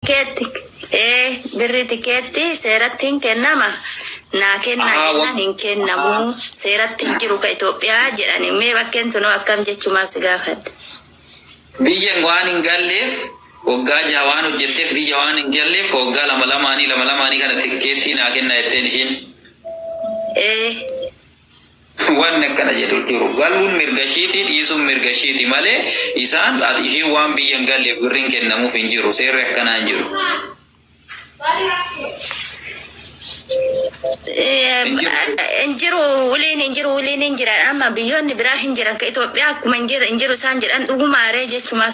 Tikeetti ee birri tikeetti seeratti hin kennama naa kennaa Ahaa, wa- jennaan hin kennamu seeratti hin jiru ka Itoophiyaa jedhani mee bakkeen tunoo akkam jechumaaf si gaafadhe. Biyya waan hin galleef waggaa jaha waan hojjetteef biyya waan hin galleef ka waggaa lama lamaanii lama lamaanii kana tikkeettii naa kennaa jetteen ishiin. Ee Wanni akkana jedhu hin jiru. Galuun mirga ishiiti, dhiisuun mirga ishiiti malee isaan ati ishiin waan biyya hin galleef birriin kennamuuf hin jiru. Seerri akkanaa hin jiru. Hin jiru. hin jiru waliin hin jiru waliin hin jiran amma biyyoonni biraa hin jiran ka Itoophiyaa akkuma hin jiru hin jiru isaan jedhan dhugumaaree jechumaaf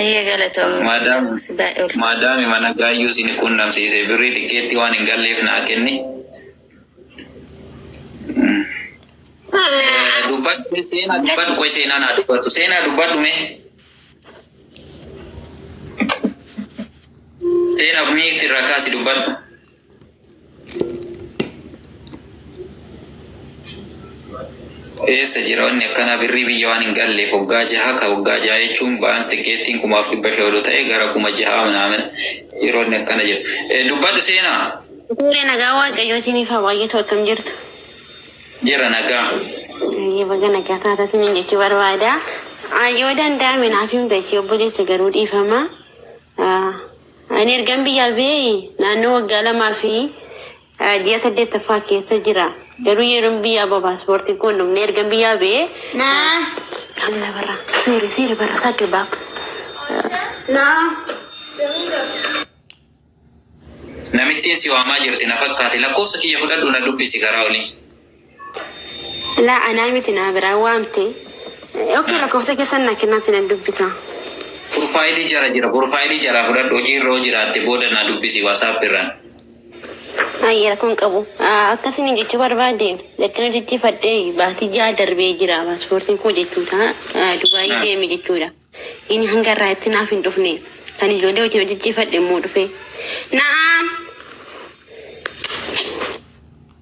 Ayyee galatoomi. Maadaam Si baay'ee ulfaata. maadaami mana gaayyuu sini quunnamsiise birrii xiqqeetti waan hin galleef naa kenni. Eh, Dubbadhu seenaa dubbadhu qoy seenaa naa dubbadhu seenaa dubbadhu mee seenaa miikti irraa kaasi dubbadhu. eessa jira wanni akkanaa birrii biyya waan hin galleef waggaa jaha ka waggaa jaha jechuun baans tikeettiin kumaaf dhibba shan ol ta'e gara kuma jaha manaamina yeroo inni akkana jedhu Eh, dubbadhu seenaa Suuree nagaa waaqayyoo isiniif haa baay'atu akkam jirtu. jira nagaa Baay'ee baga nagaa taataatiin hin jechuu barbaada. Ah, Yoo danda'ame naaf himta ishee obboleessa garuu dhiifama. Ah, Ani ergan biyyaa ba'ee naannoo waggaa lamaa fi ji'a saddeettaffaa keessa jira. Garuu yeroon biyyaa ba'u paaspoortiin koo hin dhumne. Ergan biyyaa ba'ee Naa. Kamila barra seere seere barra isaa dirbaab. Naa. Namittiin si waamaa jirti na fakkaate lakkoofsa kiyya fudhadhu na dubbisi karaa olii. Laa anaa miti naa biraa waamte. Ok lakkoofsa keessan naa kennaatti nan dubbisa. Purfaayilii jara jira purfaayilii jaraa fudhadhu hojii irra hoo jiraatte booda naa dubbisi wasaap irraan. Ayi rakkoo hin qabu. Ah, Akka isiniin jechuu barbaade erga jijjiifadhee baatii ja'a darbee jira paaspoortiin koo jechuudha. Ah, Dubaayii Ah. deeme jechuudha. Inni hanga irraa itti naaf hin dhufne. Kan ijoollee hojii hojjechiifadhe immoo dhufe. Na'aam!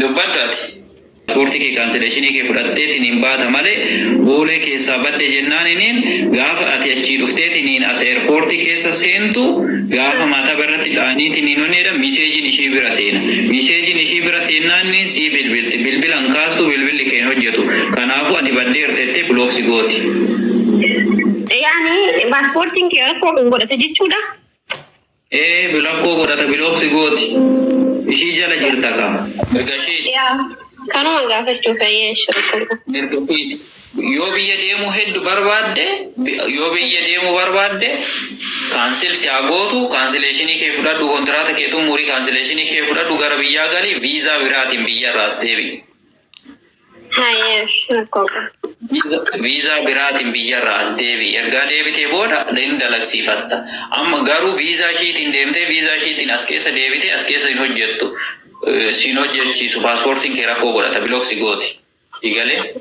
Dubbadhu ati. Pasporti kee kansileshinii kee fudhattetiniin baata malee boolee keessaa badde jennaaniniin gaafa ati achii dhufteetiniin as airporti keessa seentu gaafa maataba irratti dhaaniitiniin wanni jedhan miseejin ishii bira seena miseejin ishii bira seennaanniin sii bilbilti bilbila hin kaastu bilbilli kee hin hojjetu kanaafu ati baddeerta jettee block si gooti. Yaani pasportin kee rakkoo kan godhate jechuudha? Ee bilakkoo godhata bilooksi gooti ishii jala jirta ka mirga ishiiti. Yaa kanuma gaafachuu fayyaa shirkuma. Mirga ishiiti. Yoo biyya deemuu heddu barbaadde yoo biyya deemuu barbaadde kaansil si haa gootu kaansileeshinii kee fudhadhu kontiraata kee xummurii kaansileeshinii kee fudhadhu gara biyyaa gali viizaa biraatiin biyyarra as deebi'i. Viizaa biraatiin biyyarraa as deebi'i. Ergaa deebitee booda hin dalagsiifatta. Amma garuu viizaa ishiitiin deemtee viizaa ishiitiin as keessa deebitee as keessa hin hojjettu. Eh, Siin hojjechiisu paaspoortiin kee rakkoo godhata bilooksi gooti. Igalee?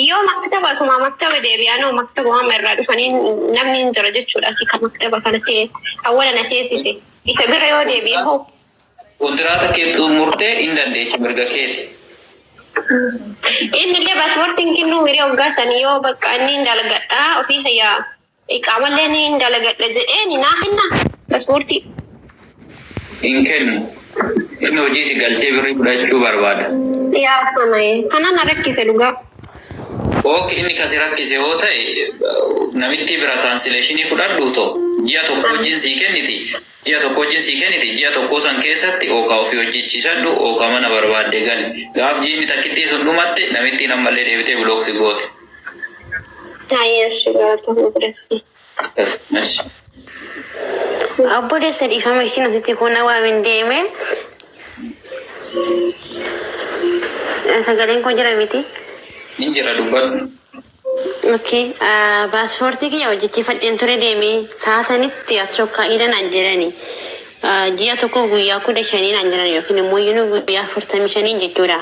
Yoo maktaba asuma maktaba deebi'anoo maktaba waan irraa dhufanii namni hin jira jechuudha. Asii kan maktaba kana see awwala na seesise. Isa bira yoo deebi'e hoo Kontiraata kee xummurtee hin dandeechu mirga keeti. Innillee pasporti hin kennuu miree hoggaa sani yoo bakka inni hin dalagadha ofii kiyya iqaamallee ni hin dalagadha jedheeni naa kenna pasportii. Hin kennu. Inni hojii si galchee birrii fudhachuu barbaada. Yaa fanaye kana na rakkise dhugaa. Ok inni ka si rakkise yoo ta'e namittii bira kaansileeshinii fudhadhuu too ji'a tokko hojiin sii kenniti. Ji'a tokko hojjiin sii kenniti, ji'a tokkoo san keessatti ookaa ufii hojjichiisadhu, ookaa mana barbaadde gali. Gaaf jiinni takkittii sun dhumatte, namittiin ammallee deebitee block si goote. Haye eshi galatomi obbolessa kiyya. Eshi. Obboleessa dhiifama ishiin asitti kun na waamin deeme. Sagaleen koo jira miti. Hin jira dubbadhu. Ok passport kiyya hojjechifadhen ture deeme saa sanitti as sokka'ida naan jedhani ji'a tokkof guyyaa kudha shanii naan jedhan yookiin immoo yunu guyyaa afurtamii shanii jechuudha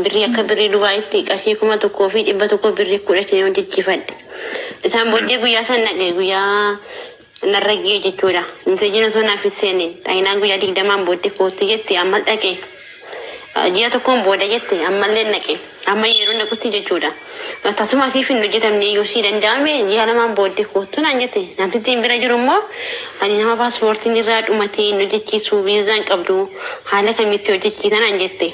birrii akka birrii dubaayitti qarshii kuma tokkoo fi dhibba tokko birrii kudha shanii hojjechifadhe isaan booddee guyyaa san dhaqe guyyaa narra gee jechuudha miseejiin osoo naaf hin seene xahinaan guyyaa digdamaan booddee koottu jette ammas dhaqe Ah, ji'a tokkoon booda jette ammallee naqe amma yeroo naqutti jechuudha Ah, tasuma siif hin hojjetamne yoo sii danda'ame ji'a lamaan booddee koottu naan jette namtittiin bira jiru immoo ani nama paaspoortiin irraa dhumatee hin hojjechiisu viizaan qabdu haala kamitti hojjechiisa naan jette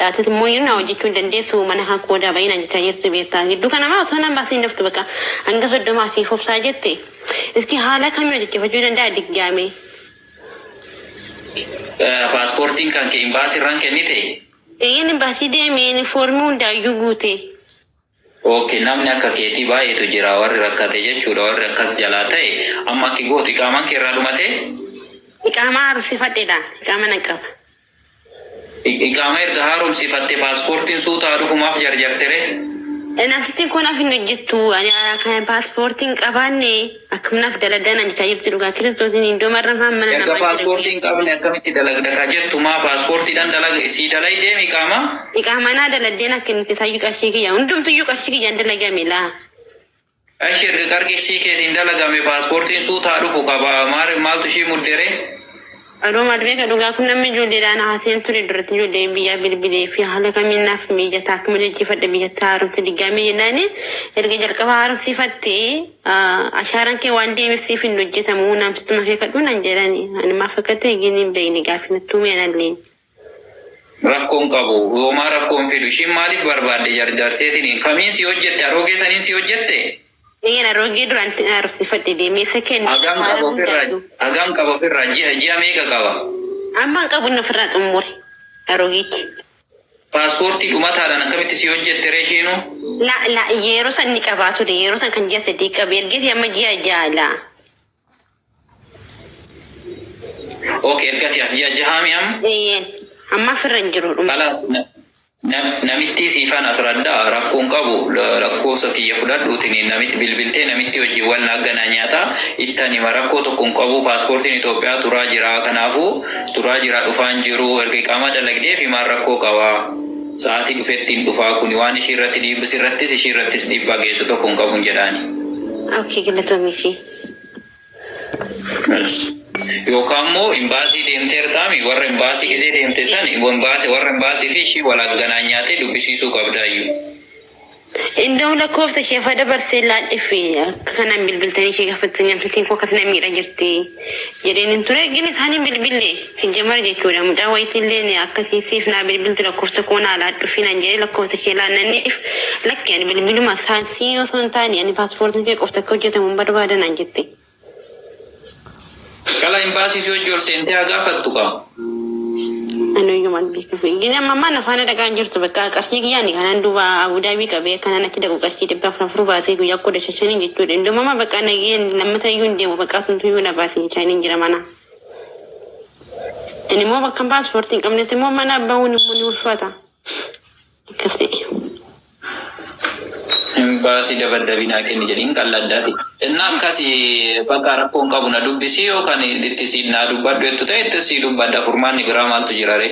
Atis immoo iyyuu naa hojjechuu hin dandeessu mana kan koo daa ba'ii naan jechaa jirti beektaa gidduu kana maa osoo naan baasiin daftu baqa hanga soddomaa siif obsaa jette iski haala kamii hojjechifachuu danda'a diggaamee. Paaspoortiin kan kee imbaasii irraan kennite? Eeyyeen imbaasii deemeen foormii hundaayyuu guute. Ok namni akka keetii baay'eetu jira warri rakkate jechuudha warri akkas jalaa ta'e amma akki gootu iqaamaan kee irraa dhumatee? Iqaamaa haaromsifadheedha. Iqaama nan qaba. I- Iqaama erga haaromsifatte paaspoortiin suutaa dhufu maaf jarjartere? Nafsittiin koo naaf hin hojjettu. Ani ah, kan paaspoortii hin qabaanne. Akkam naf daladaa nan jechaa jirti dhugaa kiristoosin indoo marra maan mana Erga namaa jira passport hin qabne akkamitti dalagda ka jettu maa passport dhan dalaga sii dalay deemi qaama. Iqaamaa naa daladee na kennite sayyuu qarshii kiyya hundumtuyyuu qarshii kiyyaan dalagame laa Ashi erga qarqishii keetiin dalagame paaspoortiin suutaa dhufu qaba maal maaltu ishii muddere Adoo maal beeka dhugaa kun namni ijoolleedhaa na haaseen ture duratti ijoolleen biyyaa bilbilee fi haala kamiin naaf miijataa akkuma jajjifadha biyyatti haaromsa diggaamee jennaani erga jalqaba haaromsiifatte ashaaran kee waan deemeef siif hin hojjetamu naamsittuma kee kadhuu nan jedhani ani maaf akka ta'e gini hin beekne gaafii nattuu mee analleen Rakkoon qabu homaa rakkoon fidu ishiin maaliif barbaadde jarjarteetiniin kamiin si hojjette aroogee saniin si hojjette Eeyyeen aroogee duraan ittiin aarofsifadhe deemee isa kennu hagam waan qaba ofirraa hundaatu. hagam qaba ofirraa ji'a ji'a meeqa qaba Amma hin qabu inni ofirraa xumure. Aroogeetti. paaspoortii dhumataadhaan akkamitti si hojjette ree ishiinuu La la yeroo san ni qabaa ture yeroo san kan ji'a sadii qabu ergeeti amma ji'a ja'a la. Ok ergasii as ji'a jahaami amma. Eeyyeen. Amma firra hin jiru dhuma. Kalaas na- na- namittii siifan as raddaa rakkoo hin qabu La- lakkoofsa kiyya fudhadhuutini namitti bilbiltee namitti hojiiwwan naaggana nyaata ittan hima rakkoo tokko hin qabu paaspoortiin Itoophiyaa turaa jira kanaafuu turaa jira dhufaan jiru erga iqaamaa dalagdeef himaan rakkoo qaba. Sa'aatii dhufetti hin dhufaa kuni waan ishii irratti dhiibbis irrattis ishii irrattis dhiibbaa geessu tokko hin qabu hin jedhaani. Ok galatoomii ishee. Yookaan immoo imbaasii deemteertaami warra imbaasii gisee deemte san imbaasii warra imbaasii fi ishii wal agganaan nyaatee dubbisiisuu qabdaayyu. Indoo lakkoofsa ishee fa dabarsee laadhifi akka kanaan bilbiltanii ishee gaafattanii namtittiin koo akkas na miidha jirti jedheen hin ture gin isaan hin bilbille. Sijjamar jechuudha mucaa wayiti illeen akkati siif naa bilbiltu lakkofsa koo naa laadhufi naan jedhee lakkofsa ishee laannanneef lakki ani bilbiluma saan sii osoo hin taane ani paaspoortiin kee qofti akka hojjetamu hin barbaada naan jette. Qala imbaasii si hojji ol seentee haa gaafattu kaa. Ani hoyyuu maal beeku. Gini amma ammaa na faana dhaqaa hin jirtu bakka qarshii kiyyaa ni kanaan duuba Abudaabii qabee kanaan achi dhaqu qarshii dhibba afur afur baasee guyyaa kudha shashaniin jechuudha. Indoomama bakka nageen lammata iyyuu hin deemu bakka atumtu iyyuu na baasee jechaa hin jira mana. Ani immoo bakka paaspoortii hin qabnetti immoo mana bahuun immoo ni ulfaata. Akkas ta'e. Imbaasii dabaddabii naa kenni jedhiin qalladdaati. Innaa akkasi bakka rakkoon qabu na dubbisii yookaan itti si naa dubbadhu jettu ta'e itti si dubbadha furmaanni biraa maaltu jira ree?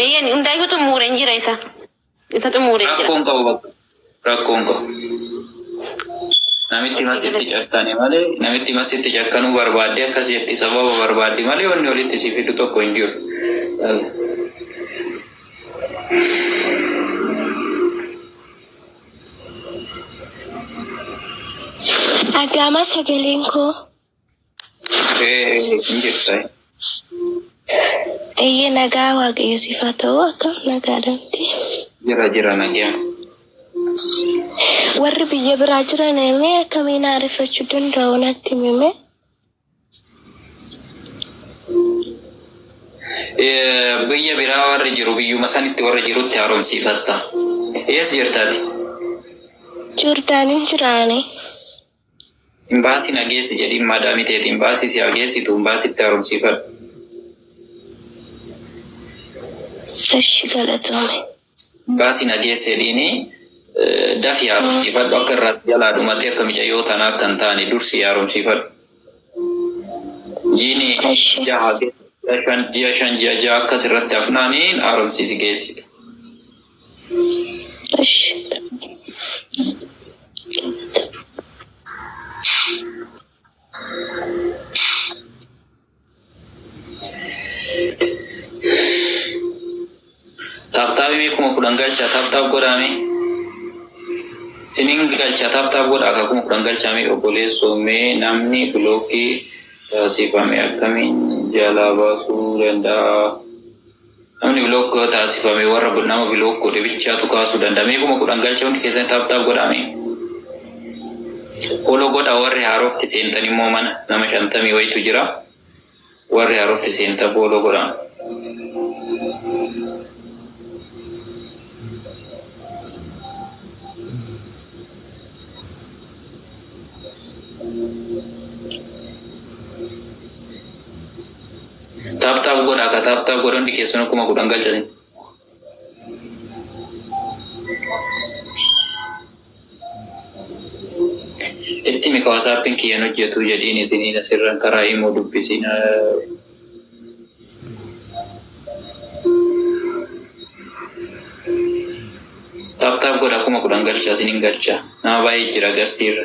Eeyyeen hundaayyuu xummuureen jira isa. Isa xummuureen jira. Rakkoon qabu bakka. Rakkoon qabu. Namitti masitti cakkane malee namitti masitti cakkanuu barbaadde akkas jetti sababa barbaaddi malee wanni walitti si fidu tokko hin jiru. Agaamaa sagaleen koo. Eeyyee nagaa waaqayyo siif haa ta'u akkam nagaa dhabde. Jira jira nagaa. Warri biyya biraa jiran mee akkamiin haareffachuu danda'u natti himi. Biyya biraa warri jiru biyyuma sanitti warri jirutti haaromsiifatta. Ees jirtaati? Joordaaniin jiraane. Imbaasi na geessi jedhiin maadaami teeti imbaasi si haa geessitu imbaasitti haaromsiifadhu. Eshi galatoomi. Imbaasi na geessi jedhiini dafi haaromsiifadhu akka irraa si jalaa dhumatee akka micayyoo tanaa akka hin taane dursi haaromsiifadhu. Jiini Eshi. jaha geessi ji'a shan ji'a jaha akkas irratti hafnaani haaromsiisi geessita. Taaptaabii mee kuma kudhan galchaa taaptaab godhaa mee. Sinin galchaa taaptaab godhaa akka kuma kudhan galchaa mee obboleessoo mee namni bilookii taasifame akkamiin jalaa baasuu danda'a? Namni block taasifame warra nama block godhe bichaatu kaasuu danda'a. Mee kuma kudhan galcha hundi keessan taap taap godhaa mee. Follow godhaa warri haarofti seentan immoo mana nama shantamii wayitu jira. Warri haarofti seentan follow godhaa. Tap tap godha ka tap tap godha hundi keessanu kuma kudhan galchatin. Itti mika wasaappiin kiyyan hojjetu jedhiin isiniin asirran karaa imuu dubbisiin. Tap tap godha kuma kudhan galcha isinin galcha. Nama baay'ee jira garsiirra.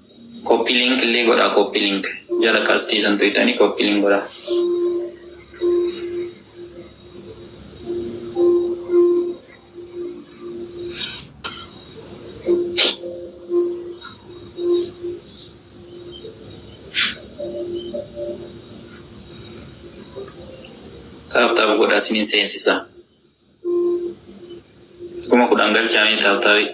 Copy link illee godhaa copy link jala qastii san tuyxanii copy link godhaa. Taap taap godhaa sinin seensisaa. Kuma kudhan galchaamee taabtaabii.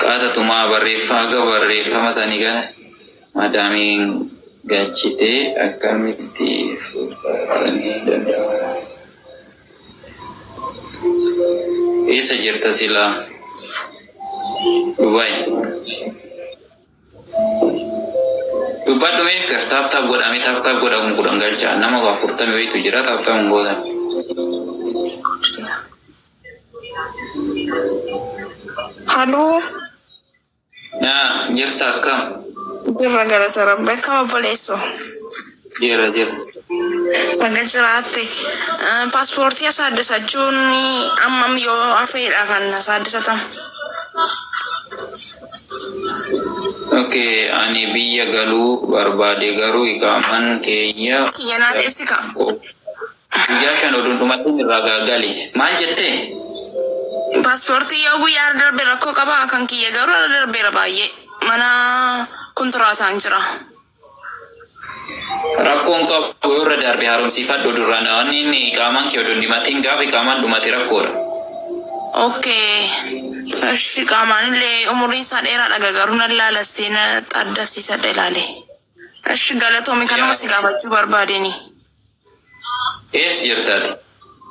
Qaata tumaa barreeffama akka barreeffama sani kana madaamiin gachitee akkamitti fudhatamee danda'ama. Eessa jirta sila? Dubai. Dubbadhu mee gar taaptaap godha mee taaptaap godha kun kudhan galcha nama waa furtame wayitu jira taaptaap hin gootan. Haloo. Naa jirta akkam? Jirra galata rabbi akkam obboleesso? Jira jira. Baga jiraatte. Eh, Paaspoortii asaaddisachuun ammam yoo hafeedha kan asaaddisatamu? Okay, ani biyya galuu barbaade garuu iqaaman keenya Kiyyanaan ibsi ka. Guyyaa shan odoo hin dhumatin irraa ga- gali. Maal jettee? Paaspoortii yoo guyyaa irra darbe rakkoo qaba kan kiyya garuu irra darbeera baay'ee mana kontiraataan jira. Rakkoon qabu yoo irra darbe haaromsiifadhu duraan waan inni iqaamaan kee odoo hin dhumatin gaafa iqaamaan dhumate rakkoodha. Okay. Ishi qaamaan illee umuriin isaa dheeraadha garuu nan laala istee na xaddasiisadha ilaale. Eshi galatoomi kanuma si gaafachuu barbaadeni. Ees jirta ati?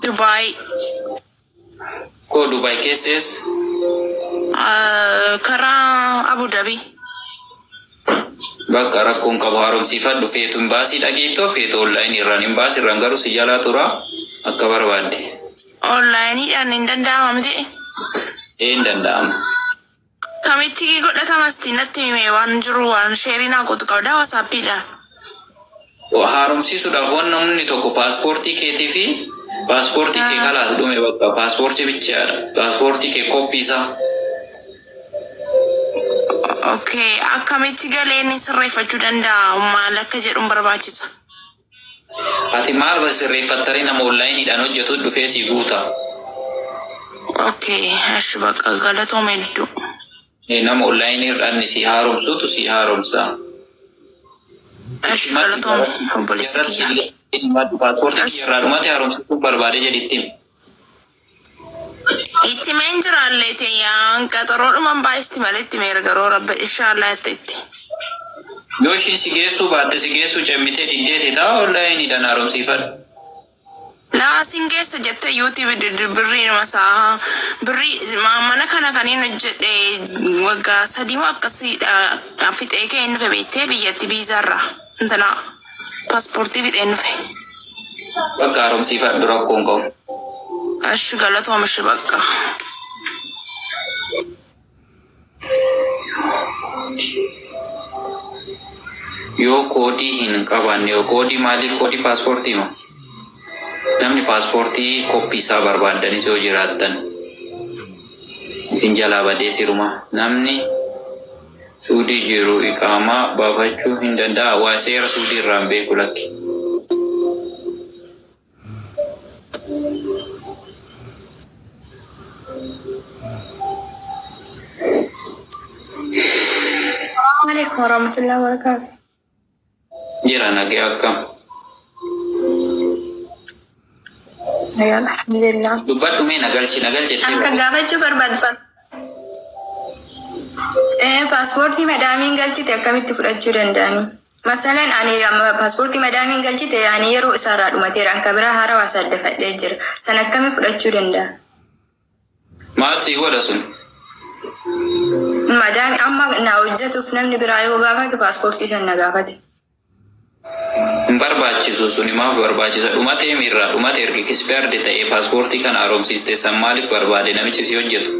Dubai. Koo Dubai keessa eessa? Ah, karaa Abu Dhabi. Bakka rakkoon qabu haaromsiifadhu feetu imbaasii dhageettoo feetu online irraan imbaasii irraan garuu si jalaa tura akka barbaadde. Online dhaan hin danda'ama miti. Ee hin danda'ama. Kamitti godhatama sti natti himi mee waan jiru waan sheri naa gotu qabda wasapi dha. Haaromsiisuudhaaf wan namni tokko paaspoortii keetii fi paaspoortii kee kalaas dhume bakka paaspoortii bichaa dha paaspoortii kee koppii isaa. Ok akkamitti galee inni sirreeffachuu danda'a maal akka jedhun barbaachisa. Ati maal base sirreeffattaree nama online dhaan hojjetu dhufee sii guuta. Ok eshi baqa galatoom hedduu. Ee nama online irra anni sii haaromsuutu sii haaromsa. Eshi galatoom obboleessa kiyya. Passport kiyya irraa dhumate haaromsachuu barbaade jedhi itti himi. Itti mee hin jiraalle teeyaan qaxaroo dhuman baay'isti malee itti mee garuu rabbi inshaallah itti itti. Yoo ishiin si geessuu baatte si geessuu cemmitee diddee tetaa online dhan haaromsiifadhu. Laa sin geessa jette YouTube diddu birrii numa saaha birrii ma- mana kana kaniin hojjedhe waggaa sadii moo akkasiidha fixee kee hin dhufe beettee biyyatti biizaarra intalaa. Pasportii fixeen dhufe. Bakka haaromsiifadhu rakkoo hin qabu. Ashi galatoom ishi bakka. Yoo koodii hin qabaanne yoo koodii maalii koodii paaspoortii moo? Namni paaspoortii koppii isaa barbaaddanis yoo jiraattan isin jalaa badee sirumaa namni Suudii jiru iqaamaa baafachuu hin danda'aa? Waan seera Suudii irraa hin beeku lakki. Assalamu alaikum warahmatullahi wabarakatuh. Jira nagee akkam. Nagaan alhamdulillah. Dubbadhu mee nagalchi nagalchi itti Akka himi. gaafachuu barbaadu paas. Eh, paaspoortii madaamiin galchite akkamitti fudhachuu danda'ani? Masalan ani amma paaspoortii madaamiin galchite ani yeroo isaarraa dhumateera akka biraa haarawaa saaddafadhee jira. San akkamitti fudhachuu danda'a? Maal sii godha sun? Madaan amma na hojjetuuf namni biraa yoo gaafatu paaspoortii san na gaafate. Hin barbaachisu suni maaf barbaachisa? Dhumatee miirraa dhumate erga kispeerdi ta'ee paaspoortii kana haaromsiiste san maaliif barbaade namichi si hojjetu?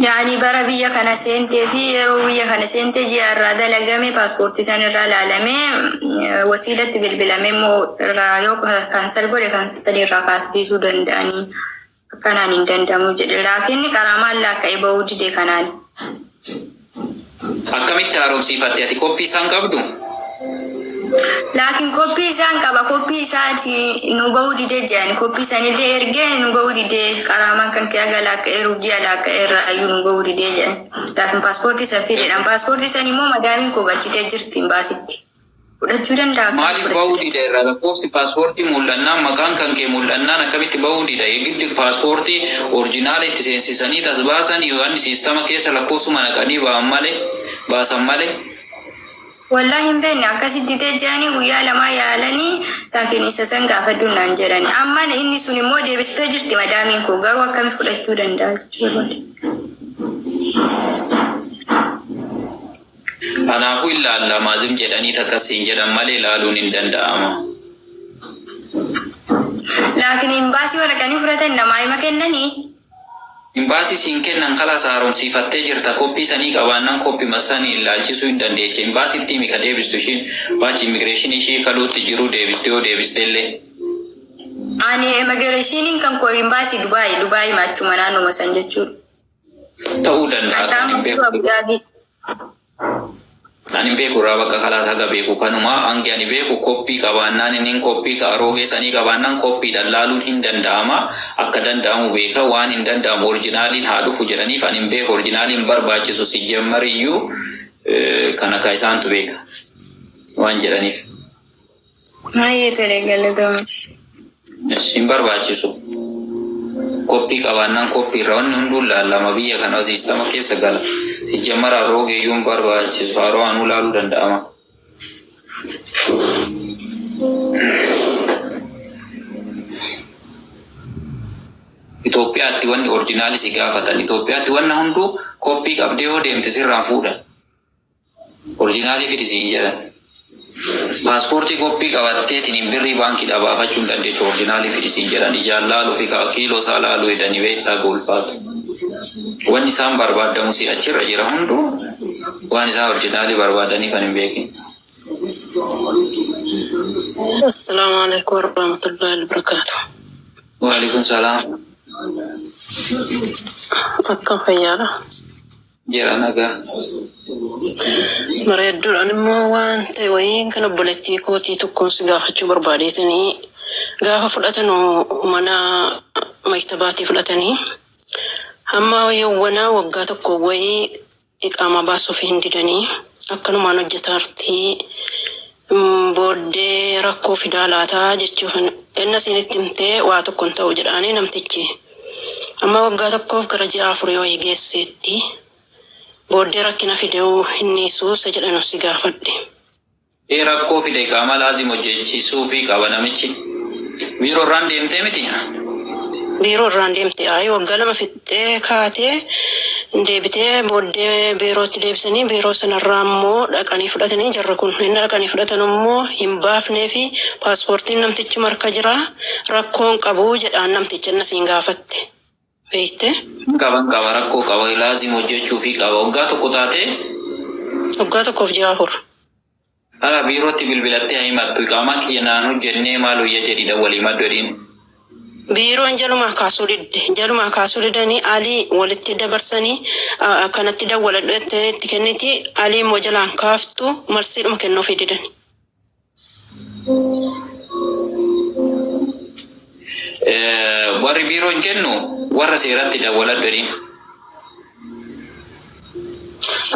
Yaani bara biyya kana seentee fi yeroo biyya kana seentee ji'a irraa dalagame paaspoortii san irraa ilaalamee eh, wasiilatti bilbilamee immoo irraa yoo kaansal godhe kaansalii irraa kaasisiisuu danda'anii akkanaan hin danda'amu jedhe laakiin qaraamaan laakka'e ba'uu dide kanaan. Akkamitti haaromsiifatte ati koppii isaan qabdu? Laakiin koppii isaan qaba koppii isaati nu bahuu didee jedhan koppii sanillee ergee nu bahuu didee qaraamaan kan kee aga laakka'ee rubjii alaakka'ee irraa iyyuu nu bahuu didee jedhan laakiin paaspoortii san fideedhaan paaspoortii san immoo madaamiin koo galchitee jirti imbaasitti. fudhachuu danda'a. Maaliif ba'uu dida irraa lakkoofsi paaspoortii mul'annaan maqaan kan kee mul'annaan akkamitti ba'uu dida yegiddi paaspoortii orjinaala itti seensisanii tas baasan yooan siistama keessa lakkoofsuma naqanii ba'an male baasan male. Wallahi hin beekne akkasi didee jedhanii guyyaa lamaa yaalanii laakiin isa san gaafadhu naan jedhani amma inni sun immoo deebistee jirti madaamiin koo garuu akkami fudhachuu danda'a jechuu barbaade. Kanaafuu hin laalla ma zim jedhanii takkas siin jedhan malee laaluun hin danda'ama. Laakin imbaasii waraqanii fudhatan namaa hima kennanii? Imbaasii siin kennan kalaas haaromsiifattee jirta koppii sanii qabaannan koppima sani illaalchisuu hin dandeecha imbaasitti himi ka deebistu ishiin baachi immigireeshinii ishii kaluutti jiruu deebistu yoo deebistellee. Ani immigireeshiniin kan koo imbaasii Dubaay Dubaayima achuma naannuma san jechuudha. ta'uu danda'a kan hin beeku. Kan hin beeku irraa bakka kalaas haga beeku kanuma hangi ani beeku koppii qabaannaan inni koppii ka aroogee sanii qabaannaan koppiidhaan laaluun hin danda'ama akka danda'amu beeka waan hin danda'amu orjinaaliin haa dhufu jedhaniif ani hin beeku orjinaaliin barbaachisu si jammariyyuu eh, kana ka isaantu beeka waan jedhaniif. Baay'ee tolee galatoomis. Hin barbaachisu. Koppii qabaannaan koppii irraa wanni hunduu laalama biyya kana siistama keessa gala. Sijjammara haroo geeyyuu hin barbaachisu. Haroo anuu laaluu danda'ama. Itoophiyaatti wanni orjinaalii si gaafatan. Itoophiyaatti wanna hunduu koppii qabdee yoo deemte sirraan fuudhan. Orijinaalii fidi siin jedhan. Pasportii koppii qabatteetiniin birrii baankii dhabaafachuu hin dandeechu orijinaalii fidi siin jedhan ijaan laaluufi kaa kiiloo isaa laaluu hedanii beektaa goolfaatu. Wanni isaan barbaaddamusii achirra jira hunduu waan isaan orijinaalii barbaadanii kan hin beekin. Assalamu alaikum warahmatullahi wabarakatuh. Waalaikum salaam. Akkam fayyaadha? Jira nagaa. Bareeddudha animmoo waan ta'e wayiin kan obboleettii kootii tokkoon si gaafachuu barbaadeetanii gaafa fudhatanu mana maktabaatii fudhatanii hamma yawwanaa waggaa tokko wayii iqaamaa baasuuf hin didanii akkanumaan hojjetaartii booddee rakkoo fidaa laata jechuu kana enna siin itti himtee waa tokko hin ta'u jedhaanii namtichi amma waggaa tokkoof gara ji'a afurii wayii geesseetti booddee rakkina fideu hin dhiisuu isa jedhanu si gaafadhe. ee rakkoo fida iqaamaa laazim hojjeechiisuufii qaba namichi biiroo irraan deemtee miti? biiroo irraan deemte ayi waggaa lama fixxe. Fixxee kaatee hin deebite. Booddee biirootti deebisanii biiroo sanarraa immoo dhaqanii fudhatanii jarri kun. Enna dhaqanii fudhatan immoo hin baafneefi paaspoortiin namtichuma harka jira rakkoo hin qabu jedhaan namtichi enna siin gaafatte beekte. Hin qaba hin qaba rakkoo qaba laazim hojjachuufii qaba. Waggaa tokko taatee? Waggaa tokkoof ji'a afur. Hala biirootti bilbilattee haa himattu iqaamaan kiyya naan hojjennee maal wayya jedhiidha wal himadhu jedhiin. Biiroon jalumaa kaasuu didde. Jalumaa kaasuu didanii Alii walitti dabarsanii kanatti dawwaladhu jettee itti kenniti. Alii immoo jalaan kaaftu marsiidhuma kennuufii didani. Warri biiroon kennu warra seeratti dawwaladhu jedhiin.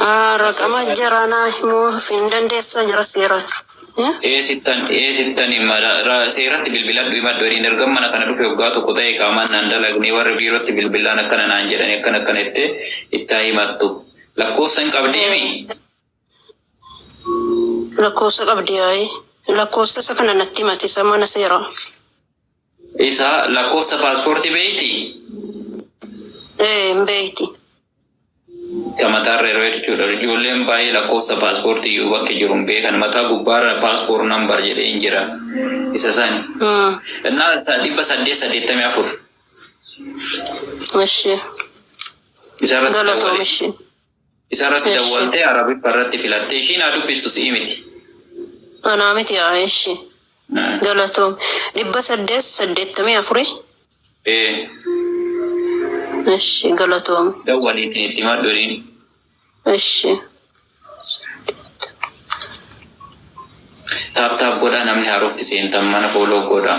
Ah, Raqama jaraa naa himuu hin dandeessa jara seeraati. Eh? Eessittan eessittan mala ra- seeratti bilbiladhu himadhu jedhiin erga mana kana dhufe waggaa tokko ta'e qaamaan naan dalagne warri biirootti bilbilaan akkana naan jedhani akkana akkana jettee itti haa himattu. Lakkoofsa hin qabdeemi? Lakkoofsa qabdi yaa'ii. Lakkoofsa isa kana natti himati isa mana seeraa. Isa lakkoofsa paaspoortii beektii? Ee, hin beekti. Ka mataarra yeroo jechuudha. Ijoolleen baay'ee lakkoofsa paaspoortii iyyuu bakki jiru hin beekan. Mataa gubbaarra paaspoor nambar jedhee hin jira. Isa sani. Mm. Innaa isaa dhibba saddeet saddeettamii afur. Ishee. Isarratti Galatoomi ishee. Isa irratti Eshi. dawwaltee Arabiffa irratti filattee ishiin haa dubbistu si'i miti. Anaa miti haa eshi. Mm. Galatoom. Dhibba saddeet saddeettamii afuri. Ee, Eshi galatoom. dawwalii ittiin itti himadhu jedhiin. Eshi. Taap taap godhaa namni haarofti seentan mana fooloo godhaa.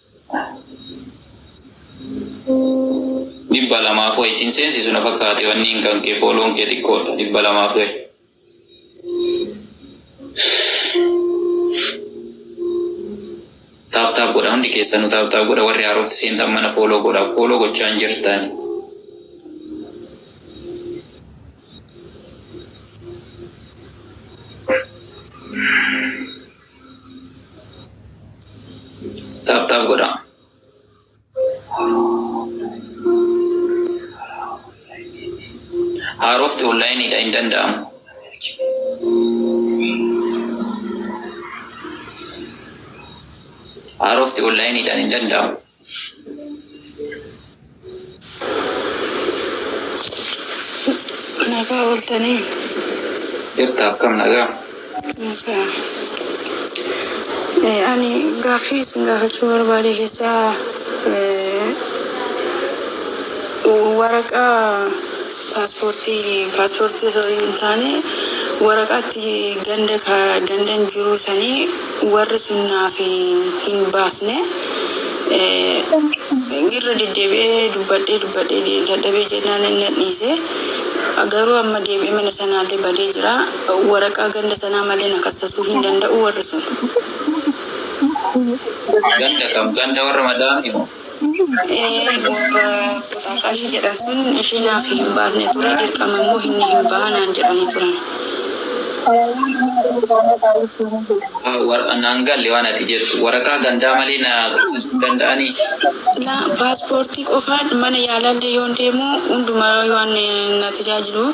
dhibba lamaaf wayi sin seensisu na fakkaate wanniin kan kee fooloon kee xiqqoodha dhibba lamaaf wayi. Taap taap godha hundi keessanuu taap taap godha warri haarofti seentan mana fooloo godha fooloo gochaa hin jirtan. Taap taap godhaa. Haarofti onlaayiniidha hin danda'amu. Haarofti onlaayiniidhaan hin danda'amu. Nagaa ooltanii Jirta akkam nagaa? nagaa. Eh, Ani gaaffii isin gaafachuu barbaade keessaa eh, waraqaa Paaspoortii paaspoortii osoo hin taane waraqaa itti ganda ka gandan jiruu sanii warri sun naaf hin baasne Eh, irra deddeebi'ee dubbadhee dubbadhee de- dadhabee jennaan inni na dhiise garuu amma deebi'ee mana sanaallee badee jira waraqaa ganda sanaa malee na kassasuu hin danda'u warri sun Ganda kam? Ganda warra madaa'anii moo? Ee morba kutaa qarshii jedhan sun ishii naaf hin baasne ture dirqama immoo inni hin baha naan jedhanii turan. Naan galle waan ati jettu. Waraqaa gandaa malee na qabsiisuu hin danda'anii? Laa paaspoortii qofaan mana yaalaallee yoon deemu hundumaa waan na tajaajilu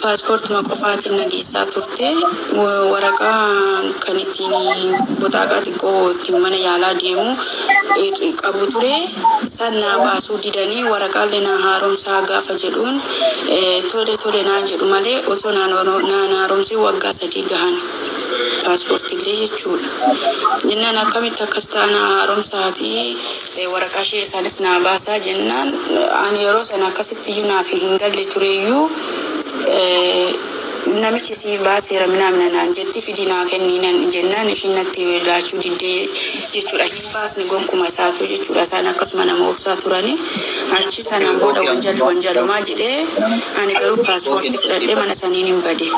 paaspoortuma qofaatiin na geessaa turte waraqaa kan ittiin boxaaqaa xiqqoo ittiin mana yaalaa deemu qabu ture. San naa baasuu didanii waraqaalle naa haaromsaa gaafa jedhuun tole tole naan jedhu malee otoo naan naan haaromsiin waggaa sadii gahan paaspoortillee jechuudha. Jennaan akkamitti akkas ta'a naa haaromsaatii waraqaa ishee isaanis naa baasaa jennaan ani yeroo sana akkasitti iyyuu naaf hin galle tureyyuu Namichi siif baaseera minaa mina naan jetti fidi naa kennii nan jennaan ishiin natti laachuu diddee jechuudha. Hin baasne gonkuma isaatu jechuudha. Isaan akkasuma nama obsaa turani. Achi sanaan booda wanjalli wanjalumaa jedhee ani garuu paaspoortii fudhadhee mana saniinin bade.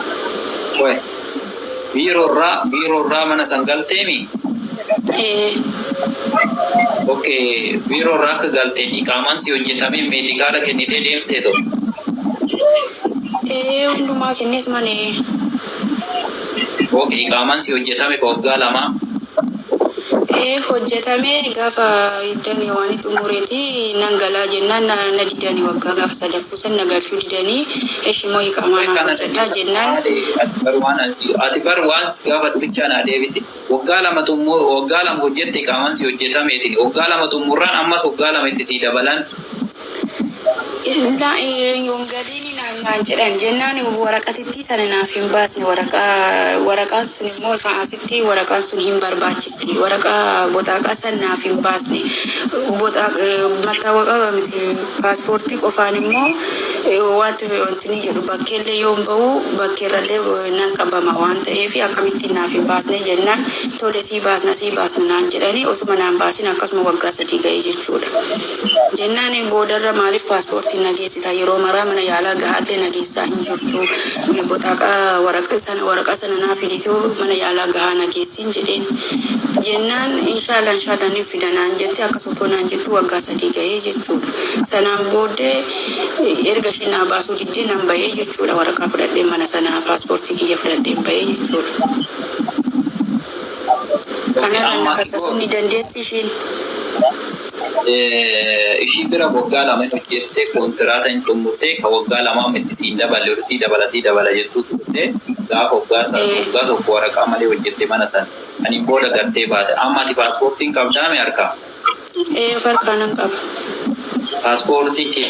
Biiroo irraa biiroo irraa mana san galteemi? Ee. Ok biiroo irraa akka galteen iqaamaan si hojjetamee meedikaala kennitee deemtee too? Ee hundumaa kenneet man ee. Ok iqaamaan si hojjetame ka waggaa lamaa? Ee hojjetame gaafa iddani waan xumureeti nan galaa jennaan na didani waggaa gaafa sadaffaa. San na galchuu didanii eshi moo iqaamaa naaf Kana hojjedhaa deebisa jennaan maali? Ati bar waan an si ati bar waan si gaafadhu bichaa naa deebisi. Waggaa lama xummu waggaa lama hojjette iqaamaan si hojjetameetini. Waggaa lama xummurraan ammas waggaa lama itti sii dabalan. Laa hin galiini naan naan jedhan jennaan waraqatittii sana naaf hin baasne waraqaa waraqaan sun immoo isaa asitti waraqaan sun hin barbaachisa. Waraqaa boxaaqaa san naaf hin baasne. Mattaawoqaa miti paaspoortii qofaan immoo wanti wantinii jedhu bakkeellee yoon ba'u bakkeerrallee nan qabama waan ta'eef akkamittiin naaf hin baasne jennaan tole sii baasna sii baasna naan jedhanii osuma naan baasin akkasuma waggaa sadii ga'ee jechuudha. Jennaan boodarra maaliif paaspoortiin nageessita yeroo maraa mana yaalaa gahaallee nageessaa hin jirtu boxaaqaa waraqaa sana naaf fidituu mana yaalaa gahaa nageessa. siin jedheen jennaan inshaalla inshaalla nin fida naan jette akkas otoo naan jettu waggaa sadii gahee jechuudha sanaan booddee erga ishii naa baasuu diddee nan bahee jechuudha waraqaa fudhadheen mana sanaa paaspoortii kiyya fudhadheen bahee jechuudha Oke kanarra na amma kasasu ni dandeessi ishiin Ishii bira waggaa lama hin hojjette, kontiraata hin xummurte, ka waggaa lamaa mitti siin daballe ol sii dabala sii dabala jettuu turte, gaafa waggaa san waggaa tokko waraqaa malee hojjette mana san, saniin booda gattee baate. Amma ati paaspoortii hin qabdaami harkaa? Eeyee of harkaa nan qaba. Paaspoortii kee.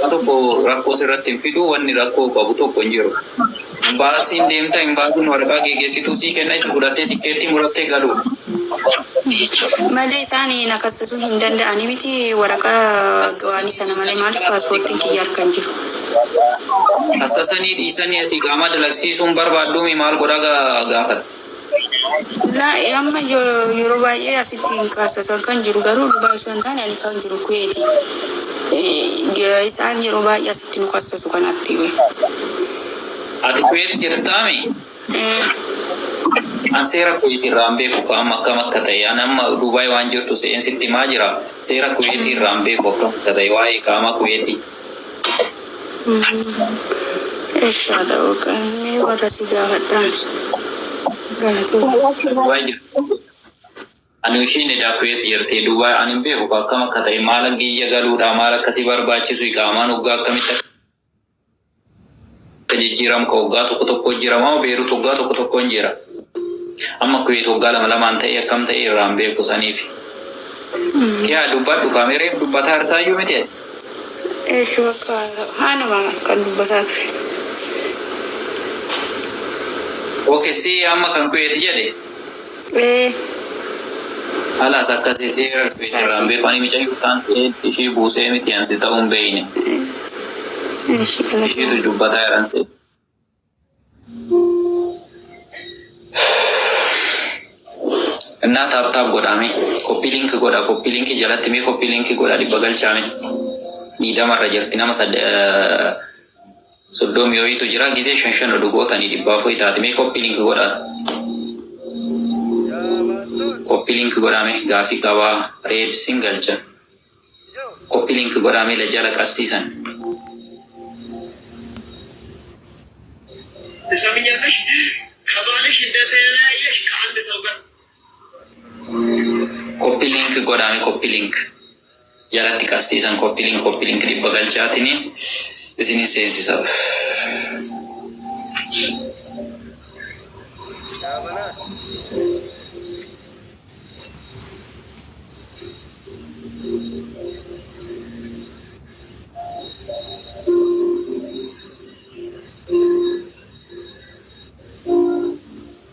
Waa tokko rakkoo sirratti hin fidu, wanni rakkoo qabu tokko hin jiru. Imbaasiin deemta, imbaasiin waraqaa geeggeessituu sii kenna, isa fudhattee tikkeettii murattee galuudha. Malee isaan na kassasuu hin danda'ani miti waraqaa gawaanii sana malee maaliif paaspoortiin kiyya harka hin jiru. Kassasanii dhiisanii ati iqaamaa dalagsiisuu hin barbaadduu mii maal godhaa ga- gaafata. Na amma yo- yeroo baay'ee asitti hin kaasa kan kan jiru garuu dhugaa osoo hin taane ani kan jiru kuweeti. Eh, Isaan yeroo baay'ee asitti nu kasasu kanatti. Ati kuweet jirtaami? Eh, An seera kuweetii irraa hin beeku ka amma akkam akka ta'e. An amma Duubaay waan jirtu se'een sitti himaa jira. Seera kuweetii irraa hin beeku akkam akka ta'e waa'ee qaamaa kuweetii. Eessaa ta'uu qabni warra si gaafadhaan. Galatoomi. Dubai jirtu ani ishiin edaa kuweet jirti Dubai ani hin beeku ka akkam akka ta'e maala giyya galuudha maal akka si barbaachisu iqaamaan hoggaa akkamitti akka Akka jijjiiram ka waggaa tokko tokkoo jiramamoo Beerut waggaa tokko tokkoon jira? Amma Kuweet waggaa lama lamaan ta'ee akkam ta'ee irraa hin beeku saniifi. Kiyaa dubbadhu kaa mee reef dubbataa irtaayyuu miti ati. Eesh bakka haanuma kan dubbataa ture. Oke si amma kan Kuweet jedhe. Ee. Halas akkasi si erfe irraan beeku ani micayyuu taan seed ishii buusee miti an si ta'uun beeyne Eshi kana ishiitu dubbataa jiran seed innaa taap taap godhaame koppii liinki godha koppii liinki jalatti mee koppii liinki godha dhibba galchaame diidama irra jirti nama sad eh, soddomi wayitu jira gizee shan shan odu gotani dhibba afuri taati mee copy link godha copy link godha mee gafi qaba red sin galcha copy link godha mee la jala qasti san Isa minyatash kabalish indetenayesh ka ande saugar Copy link godhaa mee copy link jalatti qastii san copy link copy link dhibba galchaatini isinin seensisaf.